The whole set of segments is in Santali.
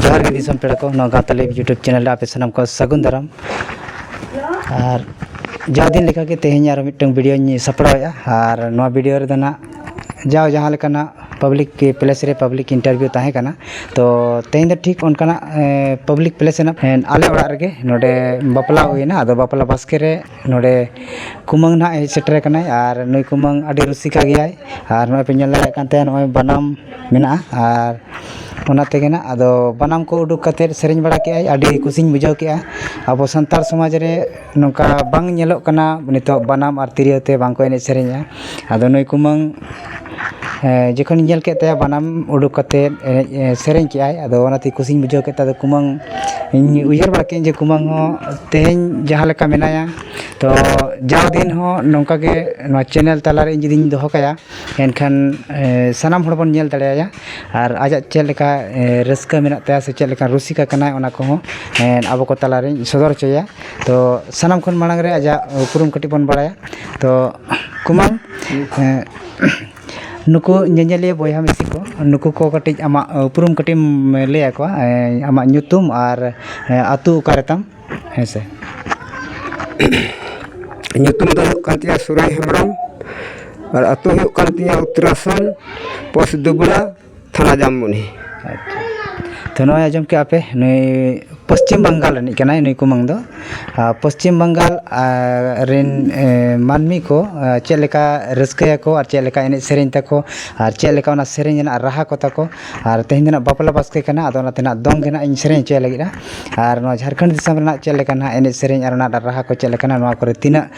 ᱡᱚᱦᱟᱨ ᱜᱮ ᱫᱤᱥᱚᱢ ᱯᱮᱲᱟ ᱠᱚ ᱱᱚᱣᱟ ᱜᱟᱶᱛᱟ ᱞᱟᱹᱭ ᱤᱭᱩᱴᱩᱵᱽ ᱪᱮᱱᱮᱞ ᱨᱮ ᱟᱯᱮ ᱥᱟᱱᱟᱢ ᱠᱚ ᱥᱟᱹᱜᱩᱱ ᱫᱟᱨᱟᱢ ᱟᱨ ᱡᱟᱣ ᱫᱤᱱ ᱞᱮᱠᱟᱜᱮ ᱛᱮᱦᱮᱧ ᱟᱨ ᱢᱤᱫᱴᱟᱹᱝ ᱵᱷᱤᱰᱭᱳᱧ ᱥᱟᱯᱲᱟᱣᱮᱫᱼᱟ ᱟᱨ ᱱᱚᱣᱟ ᱵᱷᱤᱰᱭᱳ ᱨᱮᱫᱚ ᱦᱟᱸᱜ ᱡᱟᱣ ᱡᱟᱦᱟᱸ ᱞᱮᱠᱟᱱᱟᱜ ᱯᱟᱵᱽᱞᱤᱠ ᱯᱞᱮᱥ ᱨᱮ ᱯᱟᱵᱽᱞᱤᱠ ᱤᱱᱴᱟᱨᱵᱷᱤᱭᱩ ᱛᱟᱦᱮᱸ ᱠᱟᱱᱟ ᱛᱚ ᱛᱮᱦᱮᱧ ᱫᱚ ᱴᱷᱤᱠ ᱚᱱᱠᱟᱱᱟᱜ ᱯᱟᱵᱽᱞᱤᱠ ᱯᱞᱮᱥ ᱨᱮᱱᱟᱜ ᱟᱞᱮ ᱚᱲᱟᱜ ᱨᱮᱜᱮ ᱱᱚᱰᱮ ᱵᱟᱯᱞᱟ ᱦᱩᱭᱱᱟ ᱟᱫᱚ ᱵᱟᱯᱞᱟ ᱵᱟᱥᱠᱮ ᱨᱮ ᱱᱚᱰᱮ ᱠᱩᱢᱟᱹᱝ ᱦᱟᱸᱜ ᱦᱮᱡ ᱥᱮᱴᱮᱨ ᱠᱟᱱᱟᱭ ᱟᱨ ᱱᱩᱭ ᱠᱩᱢᱟᱹᱝ ᱟᱹᱰᱤ ᱨᱩᱥᱤᱠᱟ ᱜᱮᱭᱟᱭ ᱟᱨ ᱱᱚᱜᱼᱚᱸᱭ ᱯᱮ ᱧᱮᱞ ᱫᱟᱲᱮᱭᱟᱜ ᱠᱟᱱ ᱛᱟᱭᱟ ᱱᱚᱜᱼᱚᱸᱭ ᱵᱟᱱᱟᱢ ᱢᱮᱱᱟᱜᱼᱟ ᱟᱨ ᱚᱱᱟ ᱛᱮᱜᱮ ᱦᱟᱸᱜ ᱟᱫᱚ ᱵᱟᱱᱟᱢ ᱠᱚ ᱩᱰᱩᱠ ᱠᱟᱛᱮᱫ ᱥᱮᱨᱮᱧ ᱵᱟᱲᱟ ᱠᱮᱜᱼᱟᱭ ᱟᱹᱰᱤ ᱠᱩᱥᱤᱧ ᱵᱩᱡᱷᱟᱹᱣ ᱠᱮᱜᱼᱟ ᱟᱵᱚ ᱥᱟᱱᱛᱟᱲ ᱥᱚᱢᱟᱡᱽ ᱨᱮ ᱱᱚᱝᱠᱟ ᱵᱟᱝ ᱧᱮᱞᱚᱜ ᱠᱟᱱᱟ ᱱᱤᱛᱚᱜ ᱵᱟᱱᱟᱢ ᱟᱨ ᱛᱤᱨᱭᱳ ᱛᱮ ᱵᱟᱝ ᱠᱚ ᱮᱱᱮᱡ ᱥᱮᱨᱮᱧᱟ ᱟᱫᱚ ᱱᱩᱭ ᱠᱩᱢᱟᱹᱝ ᱡᱚᱠᱷᱚᱱ ᱤᱧ ᱧᱮᱞ ᱠᱮᱫ ᱛᱟᱭᱟ ᱵᱟᱱᱟᱢ ᱩᱰᱩᱠ ᱠᱟᱛᱮᱫ ᱮᱱᱮᱡ ᱥᱮᱨᱮᱧ ᱠᱮᱫ ᱟᱭ ᱟᱫᱚ ᱚᱱᱟᱛᱮ ᱠᱩᱥᱤᱧ ᱵᱩᱡᱷᱟᱹᱣ ᱠᱮᱫ ᱛᱮ ᱟᱫᱚ ᱠᱩᱢᱟᱹᱝ ᱤᱧ ᱩᱭᱦᱟᱹᱨ ᱵᱟᱲᱟ ᱠᱮᱫᱼᱟᱹᱧ ᱡᱮ ᱠᱩᱢᱟᱹᱝ ᱦᱚᱸ ᱛᱮᱦᱮᱧ ᱡᱟᱦᱟᱸ ᱞᱮᱠᱟ ᱢᱮᱱᱟᱭᱟ ᱛᱳ ᱡᱟᱣ ᱫᱤᱱ ᱦᱚᱸ ᱱᱚᱝᱠᱟ ᱜᱮ ᱱᱚᱣᱟ ᱪᱮᱱᱮᱞ ᱛᱟᱞᱟ ᱨᱮ ᱤᱧ ᱡᱩᱫᱤᱧ ᱫᱚᱦᱚ ᱠᱟᱭᱟ ᱮᱱᱠᱷᱟᱱ ᱥᱟᱱᱟᱢ ᱦᱚᱲ ᱵᱚᱱ ᱧᱮᱞ ᱫᱟᱲᱮᱭᱟᱭᱟ ᱟᱨ ᱟᱡᱟᱜ ᱪᱮᱫ ᱞᱮᱠᱟ ᱨᱟᱹᱥᱠᱟᱹ ᱢᱮᱱᱟᱜ ᱛᱟᱭᱟ ᱥᱮ ᱪᱮᱫ ᱞᱮᱠᱟ ᱨᱩᱥᱤᱠᱟ ᱠᱟᱱᱟᱭ ᱚᱱᱟ ᱠᱚᱦᱚᱸ ᱟᱵᱚ ᱠᱚ ᱛᱟᱞᱟ ᱨᱤᱧ ᱥᱚᱫᱚᱨ ᱦᱚᱪᱚᱭᱟ ᱛᱳ ᱥᱟᱱᱟᱢ ᱠᱷᱚᱱ ᱢᱟᱲᱟᱝ ᱨᱮ ᱟᱡᱟᱜ ᱩᱯᱨᱩᱢ ᱠᱟᱹᱴᱤᱡ ᱵᱚᱱ ᱵᱟᱲᱟᱭᱟ ᱛᱳ ᱠᱩᱱᱟᱞ ᱱᱩᱠᱩ ᱧᱮᱧᱮᱞᱤᱭᱟᱹ ᱵᱚᱭᱦᱟ ᱢᱤᱥᱤ ᱠᱚ ᱱᱩᱠᱩ ᱠᱚ ᱠᱟᱹᱴᱤᱡ ᱟᱢᱟᱜ ᱩᱯᱨᱩᱢ ᱠᱟᱹᱴᱤᱡ ᱮᱢ ᱞᱟᱹᱭ ᱟᱠᱚᱣᱟ ᱟᱢᱟᱜ ᱧᱩᱛᱩᱢ ᱟᱨ ᱟᱹᱛᱩ ᱚᱠᱟᱨᱮ ᱛᱟᱢ ᱦᱮᱸ ᱥᱮ ᱧᱩᱛᱩᱢ ᱫᱚ ᱦᱩᱭᱩᱜ ᱠᱟᱱ ᱛᱤᱧᱟᱹ ᱥᱩᱨᱟᱡᱽ ᱦᱮᱢᱵᱨᱚᱢ ᱟᱨ ᱟᱹᱛᱩ ᱦᱩᱭᱩᱜ ᱠᱟᱱ ᱛᱤᱧᱟᱹ ᱩᱛᱛᱚᱨᱟᱥᱚᱱ ᱯᱳᱥᱴ ᱫᱩᱵᱽᱲᱟ ᱛᱷᱟᱱᱟ ᱡᱟᱢᱵᱚᱱᱤ ᱟᱪᱪᱷᱟ ᱛᱳ ᱱᱚᱜᱼᱚᱸᱭ ᱟᱸᱡᱚᱢ ᱠᱮᱜᱼᱟ ᱯᱮ ᱱᱩᱭ ᱯᱚᱥᱪᱤᱢ ᱵᱟᱝᱜᱟᱞ ᱨᱤᱱᱤᱡ ᱠᱟᱱᱟᱭ ᱱᱩᱭ ᱠᱩᱢᱟᱹᱝ ᱫᱚ ᱟᱨ ᱯᱚᱥᱪᱤᱢ ᱵᱟᱝᱜᱟᱞ ᱨᱮᱱ ᱢᱟᱹᱱᱢᱤ ᱠᱚ ᱪᱮᱫ ᱞᱮᱠᱟ ᱨᱟᱹᱥᱠᱟᱹᱭᱟᱠᱚ ᱟᱨ ᱪᱮᱫ ᱞᱮᱠᱟ ᱮᱱᱮᱡ ᱥᱮᱨᱮᱧ ᱛᱟᱠᱚ ᱟᱨ ᱪᱮᱫ ᱞᱮᱠᱟ ᱚᱱᱟ ᱥᱮᱨᱮᱧ ᱨᱮᱱᱟᱜ ᱨᱟᱦᱟ ᱠᱚ ᱛᱟᱠᱚ ᱟᱨ ᱛᱮᱦᱮᱧ ᱫᱚ ᱦᱟᱸᱜ ᱵᱟᱯᱞᱟ ᱵᱟᱥᱠᱮ ᱠᱟᱱᱟ ᱟᱫᱚ ᱚᱱᱟᱛᱮ ᱦᱟᱸᱜ ᱫᱚᱝ ᱜᱮ ᱦᱟᱸᱜ ᱤᱧ ᱥᱮᱨᱮᱧ ᱦᱚᱪᱚᱭ ᱞᱟᱹᱜᱤᱫᱼᱟ ᱟᱨ ᱱᱚᱣᱟ ᱡᱷᱟᱲᱠᱷᱚᱸᱰ ᱫᱤᱥᱚᱢ ᱨᱮᱱᱟᱜ ᱪᱮᱫ ᱞᱮᱠᱟ ᱦᱟᱸᱜ ᱮᱱᱮᱡ ᱥᱮᱨᱮᱧ ᱟᱨ ᱚᱱᱟ ᱨᱟᱦᱟ ᱠᱚ ᱪᱮᱫ ᱞᱮᱠᱟᱱᱟ ᱱᱚᱣᱟ ᱠᱚᱨᱮᱜ ᱛᱤᱱᱟᱹᱜ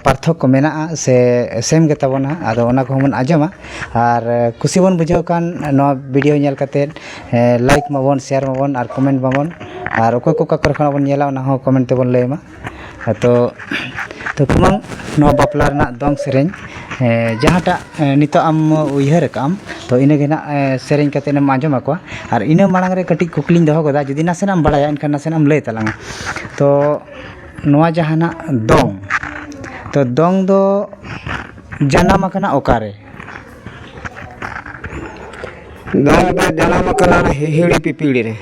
ᱯᱟᱨᱛᱷᱚᱠᱠᱚ ᱢᱮᱱᱟᱜᱼᱟ ᱥᱮ ᱥᱮᱢ ᱜᱮᱛᱟ ᱵᱚᱱᱟ ᱟᱫᱚ ᱚᱱᱟ ᱠᱚᱦᱚᱸ ᱵᱚᱱ ᱟᱸᱡᱚᱢᱟ ᱟᱨ ᱠᱩᱥᱤ ᱵᱚᱱ ᱵᱩᱡᱷᱟᱹᱣ ᱠᱷᱟᱱ ᱱᱚᱣᱟ ᱵᱷᱤᱰᱤᱭᱳ ᱧᱮᱞ ᱠᱟᱛᱮᱫ ᱞᱟᱹᱭᱤᱠ ᱢᱟᱵᱚᱱ ᱥᱮᱭᱟᱨ ᱢᱟᱵᱚᱱ ᱟᱨ ᱠᱚᱢᱮᱱᱴ ᱢᱟᱵᱚᱱ ᱟᱨ ᱚᱠᱚᱭ ᱠᱚ ᱚᱠᱟ ᱠᱚᱨᱮ ᱠᱷᱚᱱᱟᱜ ᱵᱚᱱ ᱧᱮᱞᱟ ᱚᱱᱟ ᱦᱚᱸ ᱠᱚᱢᱮᱱᱴ ᱛᱮᱵᱚᱱ ᱞᱟᱹᱭ ᱢᱟ ᱟᱫᱚ ᱛᱚᱠᱷᱚᱱ ᱱᱚᱣᱟ ᱵᱟᱯᱞᱟ ᱨᱮᱱᱟᱜ ᱫᱚᱝ ᱥᱮᱨᱮᱧ ᱡᱟᱦᱟᱸᱴᱟᱜ ᱱᱤᱛᱚᱜ ᱟᱢ ᱩᱭᱦᱟᱹᱨ ᱟᱠᱟᱫ ᱟᱢ ᱛᱳ ᱤᱱᱟᱹ ᱜᱮ ᱦᱟᱸᱜ ᱥᱮᱨᱮᱧ ᱠᱟᱛᱮᱫ ᱮᱢ ᱟᱸᱡᱚᱢ ᱟᱠᱚᱣᱟ ᱟᱨ ᱤᱱᱟᱹ ᱢᱟᱲᱟᱝ ᱨᱮ ᱠᱟᱹᱴᱤᱡ ᱠᱩᱠᱞᱤᱧ ᱫᱚᱦᱚ ᱠᱟᱫᱟ ᱡᱩᱫᱤ ᱱᱟᱥᱮᱱᱟᱜ ᱮᱢ ᱵᱟᱲᱟᱭᱟ ᱮᱱᱠᱷᱟᱱ ᱱᱟᱥᱮᱱᱟᱜ ᱮᱢ ᱞᱟᱹᱭ ᱛᱟᱞᱟᱝ ᱟ ᱛᱳ ᱱᱚᱣᱟ ᱡᱟᱦᱟᱱᱟᱜ ᱫᱚᱝ ᱛᱳ ᱫᱚᱝ ᱫᱚ ᱡᱟᱱᱟᱢ ᱟᱠᱟᱱᱟ ᱚᱠᱟᱨᱮ ᱫᱚᱝ ᱫᱚ ᱡᱟᱱᱟᱢ ᱟᱠᱟᱱᱟ ᱦᱤᱦᱤᱲᱤ ᱯᱤᱯᱤᱲᱤ ᱨᱮ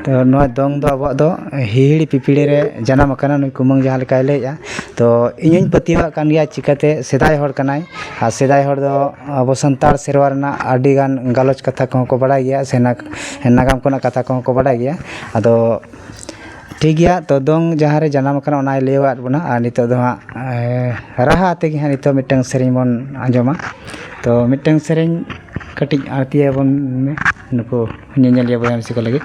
ᱛᱚ ᱱᱚᱣᱟ ᱫᱚᱝ ᱫᱚ ᱟᱵᱚᱣᱟᱜ ᱫᱚ ᱦᱤᱦᱤᱲᱤ ᱯᱤᱯᱤᱲᱤ ᱨᱮ ᱡᱟᱱᱟᱢ ᱟᱠᱟᱱᱟ ᱱᱩᱭ ᱠᱩᱢᱟᱹᱝ ᱡᱟᱦᱟᱸ ᱞᱮᱠᱟᱭ ᱞᱟᱹᱭᱮᱫᱼᱟ ᱛᱚ ᱤᱧ ᱦᱚᱸᱧ ᱯᱟᱹᱛᱭᱟᱹᱣᱟᱜ ᱠᱟᱱ ᱜᱮᱭᱟ ᱪᱤᱠᱟᱹᱛᱮ ᱥᱮᱫᱟᱭ ᱦᱚᱲ ᱠᱟᱱᱟᱭ ᱟᱨ ᱥᱮᱫᱟᱭ ᱦᱚᱲ ᱫᱚ ᱟᱵᱚ ᱥᱟᱱᱛᱟᱲ ᱥᱮᱨᱣᱟ ᱨᱮᱱᱟᱜ ᱟᱹᱰᱤ ᱜᱟᱱ ᱜᱟᱞᱚᱪ ᱠᱟᱛᱷᱟ ᱠᱚᱦᱚᱸ ᱠᱚ ᱵᱟᱲᱟᱭ ᱜᱮᱭᱟ ᱥᱮ ᱱᱟᱜᱟᱢ ᱠᱚᱨᱮᱱᱟᱜ ᱠᱟᱛᱷᱟ ᱠᱚᱦᱚᱸ ᱠᱚ ᱵᱟᱰᱟᱭ ᱜᱮᱭᱟ ᱟᱫᱚ ᱴᱷᱤᱠ ᱜᱮᱭᱟ ᱛᱚ ᱫᱚᱝ ᱡᱟᱦᱟᱸ ᱨᱮ ᱡᱟᱱᱟᱢ ᱟᱠᱟᱱᱟ ᱚᱱᱟᱭ ᱞᱟᱹᱭ ᱟᱫ ᱵᱚᱱᱟ ᱟᱨ ᱱᱤᱛᱚᱜ ᱫᱚ ᱦᱟᱸᱜ ᱨᱟᱦᱟ ᱟᱛᱮᱫ ᱜᱮ ᱦᱟᱸᱜ ᱱᱤᱛᱚᱜ ᱢᱤᱫᱴᱟᱝ ᱥᱮᱨᱮᱧ ᱵᱚᱱ ᱟᱸᱡᱚᱢᱟ ᱛᱚ ᱢᱤᱫᱴᱟᱝ ᱥᱮᱨᱮᱧ ᱠᱟᱹᱴᱤᱡ ᱟᱬᱛᱤ ᱟᱵᱚᱱ ᱢᱮ ᱱᱩᱠᱩ ᱧᱮᱧᱮᱞᱤᱭᱟᱹ ᱵᱚᱭᱦᱟ ᱢᱤᱥᱤ ᱠᱚ ᱞᱟᱹᱜᱤᱫ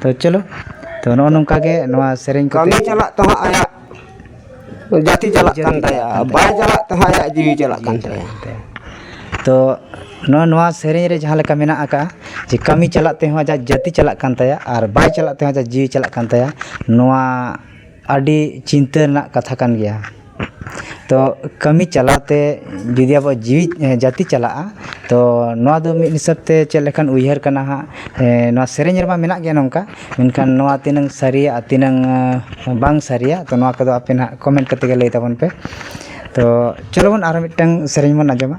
ᱛᱚ ᱪᱚᱞᱚ ᱛᱚ ᱱᱚᱜᱼᱚ ᱱᱚᱝᱠᱟ ᱜᱮ ᱱᱚᱣᱟ ᱥᱮᱨᱮᱧ ᱠᱚ ᱠᱟᱹᱢᱤ ᱪᱟᱞᱟᱜ ᱛᱮᱦᱚᱸ ᱟᱭᱟᱜ ᱡᱟᱹᱛᱤ ᱪᱟᱞᱟᱜ ᱠᱟᱱ ᱛᱟᱭᱟ ᱵᱟᱭ ᱪᱟᱞᱟᱜ ᱛᱮᱦᱚᱸ ᱟᱭᱟᱜ ᱡᱤᱣᱤ ᱪᱟᱞᱟᱜ ᱠᱟᱱ ᱛᱟᱭᱟ ᱛᱚ ᱱᱚᱜᱼᱚ ᱱᱚᱣᱟ ᱥᱮᱨᱮᱧ ᱨᱮ ᱡᱟᱦᱟᱸ ᱞᱮᱠᱟ ᱢᱮᱱᱟᱜ ᱟᱠᱟᱫᱼᱟ ᱡᱮ ᱠᱟᱹᱢᱤ ᱪᱟᱞᱟᱜ ᱛᱮᱦᱚᱸ ᱟᱡᱟᱜ ᱡᱟᱹᱛᱤ ᱪᱟᱞᱟᱜ ᱠᱟᱱ ᱛᱟᱭᱟ ᱟᱨ ᱵᱟᱭ ᱪᱟᱞᱟᱜ ᱛᱮᱦᱚᱸ ᱟᱡᱟᱜ ᱡᱤᱣᱤ ᱪᱟᱞᱟᱜ ᱠᱟᱱ ᱛᱟᱭᱟ ᱱᱚᱣᱟ ᱟᱹᱰᱤ ᱪᱤᱱᱛᱟᱹ ᱨᱮᱱᱟᱜ ᱠᱟᱛᱷᱟ ᱠᱟᱱ ᱜᱮᱭᱟ ᱛᱚ ᱠᱟᱹᱢᱤ ᱪᱟᱞᱟᱣ ᱛᱮ ᱡᱩᱫᱤ ᱟᱵᱚᱣᱟᱜ ᱡᱤᱣᱤ ᱡᱟᱹᱛᱤ ᱪᱟᱞᱟᱜᱼᱟ ᱛᱚ ᱱᱚᱣᱟ ᱫᱚ ᱢᱤᱫ ᱦᱤᱥᱟᱹᱵ ᱛᱮ ᱪᱮᱫ ᱞᱮᱠᱟᱱ ᱩᱭᱦᱟᱹᱨ ᱠᱟᱱᱟ ᱦᱟᱸᱜ ᱱᱚᱣᱟ ᱥᱮᱨᱮᱧ ᱨᱮᱢᱟ ᱢᱮᱱᱟᱜ ᱜᱮᱭᱟ ᱱᱚᱝᱠᱟ ᱢᱮᱱᱠᱷᱟᱱ ᱱᱚᱣᱟ ᱛᱤᱱᱟᱹᱝ ᱥᱟᱹᱨᱤᱭᱟ ᱟᱨ ᱛᱤᱱᱟᱹᱝ ᱵᱟᱝ ᱥᱟᱹᱨᱤᱭᱟ ᱛᱚ ᱱᱚᱣᱟ ᱠᱚᱫᱚ ᱟᱯᱮ ᱦᱟᱸᱜ ᱠᱚᱢᱮᱱᱴ ᱠᱟᱛᱮᱫ ᱜᱮ ᱞᱟᱹᱭ ᱛᱟᱵᱚᱱ ᱯᱮ ᱛᱚ ᱪᱚᱞᱚ ᱵᱚᱱ ᱟᱨ ᱢᱤᱫᱴᱟᱝ ᱥᱮᱨᱮᱧ ᱵᱚᱱ ᱟᱸᱡᱚᱢᱟ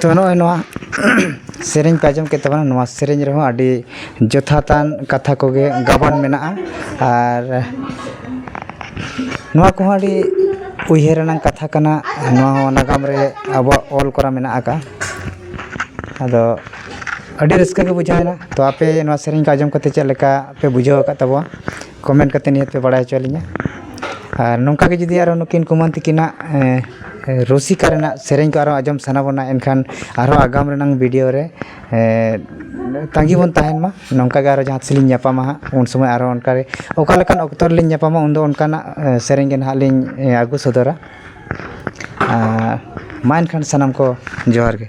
ᱛᱚ ᱱᱚᱜᱼᱚᱭ ᱱᱚᱣᱟ ᱥᱮᱨᱮᱧ ᱯᱮ ᱟᱸᱡᱚᱢ ᱠᱮᱫ ᱛᱟᱵᱚᱱᱟ ᱱᱚᱣᱟ ᱥᱮᱨᱮᱧ ᱨᱮᱦᱚᱸ ᱟᱹᱰᱤ ᱡᱚᱛᱷᱟᱛᱟᱱ ᱠᱟᱛᱷᱟ ᱠᱚᱜᱮ ᱜᱟᱵᱟᱱ ᱢᱮᱱᱟᱜᱼᱟ ᱟᱨ ᱱᱚᱣᱟ ᱠᱚᱦᱚᱸ ᱟᱹᱰᱤ ᱩᱭᱦᱟᱹᱨ ᱨᱮᱱᱟᱜ ᱠᱟᱛᱷᱟ ᱠᱟᱱᱟ ᱱᱚᱣᱟ ᱦᱚᱸ ᱱᱟᱜᱟᱢ ᱨᱮ ᱟᱵᱚᱣᱟᱜ ᱚᱞ ᱠᱚᱨᱟ ᱢᱮᱱᱟᱜ ᱟᱠᱟᱫᱼᱟ ᱟᱫᱚ ᱟᱹᱰᱤ ᱨᱟᱹᱥᱠᱟᱹ ᱜᱮ ᱵᱩᱡᱷᱟᱹᱣ ᱮᱱᱟ ᱛᱳ ᱟᱯᱮ ᱱᱚᱣᱟ ᱥᱮᱨᱮᱧ ᱠᱚ ᱟᱸᱡᱚᱢ ᱠᱟᱛᱮᱫ ᱪᱮᱫ ᱞᱮᱠᱟ ᱯᱮ ᱵᱩᱡᱷᱟᱹᱣ ᱟᱠᱟᱫ ᱛᱟᱵᱚᱱᱟ ᱠᱚᱢᱮᱱᱴ ᱠᱟᱛᱮᱫ ᱱᱤᱦᱟᱹᱛ ᱯᱮ ᱵᱟᱲᱟᱭ ᱦᱚᱪᱚ ᱞᱤᱧᱟ ᱟᱨ ᱱᱚᱝᱠᱟ ᱜᱮ ᱡᱩᱫᱤ ᱟᱨᱚ ᱱᱩᱠᱤᱱ ᱠᱩᱢᱟᱹᱝ ᱛᱟᱹᱠᱤᱱᱟᱜ ᱨᱩᱥᱤᱠᱟ ᱨᱮᱱᱟᱜ ᱥᱮᱨᱮᱧ ᱠᱚ ᱟᱨᱚ ᱟᱸᱡᱚᱢ ᱥᱟᱱᱟ ᱵᱚᱱᱟ ᱮᱱᱠᱷᱟᱱ ᱟᱨᱦᱚᱸ ᱟᱜᱟᱢ ᱨᱮᱱᱟᱜ ᱵᱷᱤᱰᱤᱭᱳ ᱨᱮ ᱛᱟᱺᱜᱤ ᱵᱚᱱ ᱛᱟᱦᱮᱱ ᱢᱟ ᱱᱚᱝᱠᱟ ᱜᱮ ᱟᱨᱚ ᱡᱟᱦᱟᱸ ᱛᱤᱥ ᱞᱤᱧ ᱧᱟᱯᱟᱢᱟ ᱦᱟᱸᱜ ᱩᱱ ᱥᱚᱢᱚᱭ ᱟᱨᱚ ᱚᱱᱠᱟ ᱜᱮ ᱚᱠᱟ ᱞᱮᱠᱟᱱ ᱚᱠᱛᱚ ᱨᱮᱞᱤᱧ ᱧᱟᱯᱟᱢᱟ ᱩᱱ ᱫᱚ ᱚᱱᱠᱟᱱᱟᱜ ᱥᱮᱨᱮᱧ ᱜᱮ ᱦᱟᱸᱜ ᱞᱤᱧ ᱟᱹᱜᱩ ᱥᱚᱫᱚᱨᱟ ᱟᱨ ᱢᱟ ᱮᱱᱠᱷᱟᱱ ᱥᱟᱱᱟᱢ ᱠᱚ ᱡᱚᱦᱟᱨ ᱜᱮ